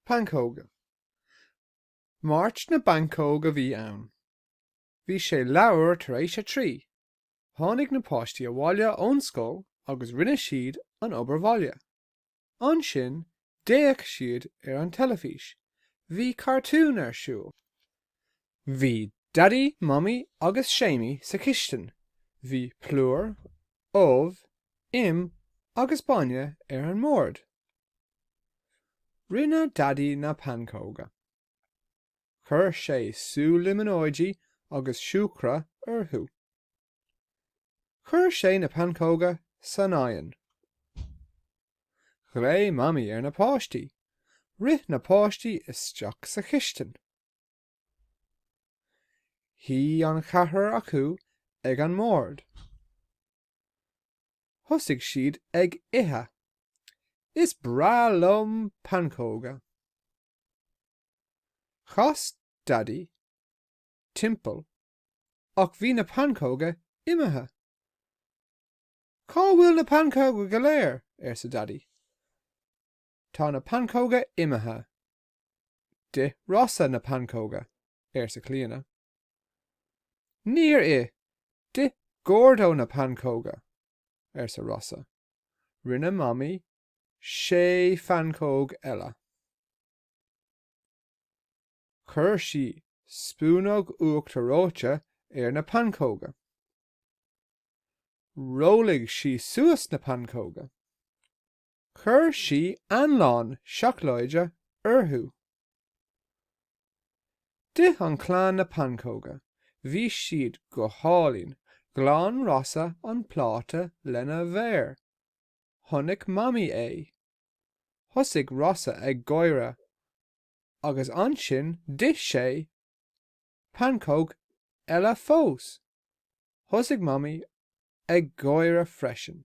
Pancóga. Máirt na bpancóg a bhí ann. Bhí sé leathuair tar éis a trí. Tháinig na páistí abhaile ón scoil agus rinne siad an obair bhaile. Ansin d'fhéach siad ar an teilifís. Bhí cartún ar siúl. Bhí Daidí, Mamaí agus Séamaí sa chistin. Bhí plúr, ubh, im agus bainne ar an mbord. Rinne Daidí na pancóga. Chuir sé sú liminóidí agus siúcra orthu. Chuir sé na pancóga san oigheann. Ghlaoigh Mamaí ar na páistí. Rith na páistí isteach sa chistin. Shuigh an ceathrar acu ag an mbord. Thosaigh siad ag ithe. Is breá liom pancóga. Chas Daidí timpeall ach bhí na pancóga imithe. Cá bhfuil na pancóga go léir? arsa Daidí. Tá na pancóga imithe, D'ith Rossa na pancóga, arsa Clíona. Níor ith, d'ith Gordo na pancóga, arsa Rossa. Rinne Mamaí sé phancóg eile. Chuir sí spúnóg uachtar reoite ar na pancóga. Rollaigh sí suas na pancóga. Chuir sí anlann seacláide orthu. D'ith an chlann na pancóga, bhí siad go hálainn, ghlan Rossa an pláta lena mhéar. Chonaic Mamaí é. Thosaigh Rossa ag gáire, agus ansin d'ith sé pancóg eile fós. Thosaigh Mamaí ag gáire freisin.